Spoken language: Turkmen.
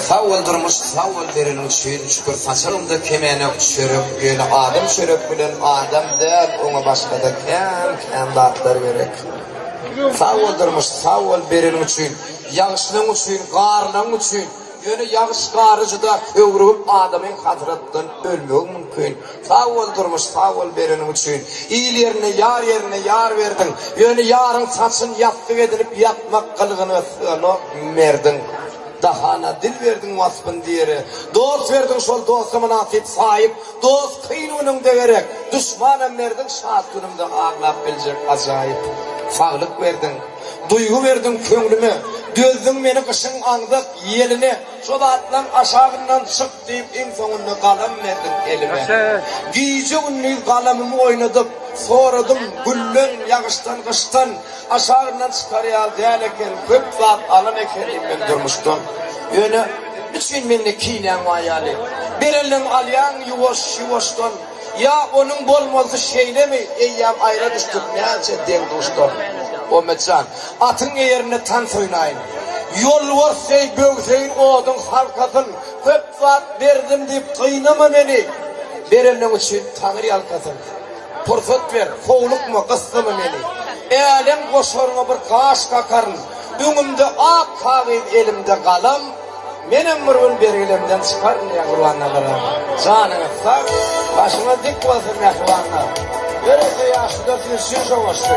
Sag bol durmuş sag bol bereniň üçin şükür saçagyňda kemene çörek ýöne adam çörek bilen adam däl oňa başgada kän kän zatlar gerek. Sag bol durmuş sag bol bereniň üçin ýagşylygyň üçin garlygyň üçin Ýöne ýagyş gary juda höwrügip adamyň hasratdan ölmegi mümkin. Sag bol durmuş sag bol bereniň üçin. Il ýerine ýar ýerine ýar berdiň. Ýöne ýaryň saçyn ýassyk edinip ýatmak gylgyna syganok merdiň. Dahana dil berdiň waspyn diýere. Dost berdiň şol dosta mynasyp saýyp. Dost kyn günüňde gerek. Duşmanam merdiň şat günüňde aglap biljek ajaýyp. Saglyk berdiň. Duýgy berdiň köňlüme, dözdüň meni gyşyň aňzak ýeline, Şo zatlaň aşagyndan çyk diýip, iň soňunda galam berdiň elime. Gije-gündiz galamymy oýnadyp, soradym gülden, ýagyşdan, gyşdan, Aşagyndan çykar ýaly däl eken, köp zat alan ekenim men durmuşdan. Ýöne, niçin mende kinäň bar ýaly? Berenleň alýaň ýuwaş-ýuwaşdan. Ýa onuň bolmalysy şeýlemi? Eýýäm aýra düşdük, näçe deň-duşdan. Ommetjan, atyň eýerinde tans oýnaýyn. Ýolbars deý böwseýin oduň halkasyn. Köp zat berdim diýip gynama meni. Berenleň üçin Taňry ýalkasyn. Pursat ber, howlukma, gyssama meni. Älem goşaryňa bir gaş kakaryn. Öňümde ak kagyz, elimde galam. Menem bir gün bergilemden çykaryn mähribanlalara. Janyňyz sag, başyňyz dik bolsun mähribanlar. Ýörite ýaşlylar siz üçin şoňlaşdy.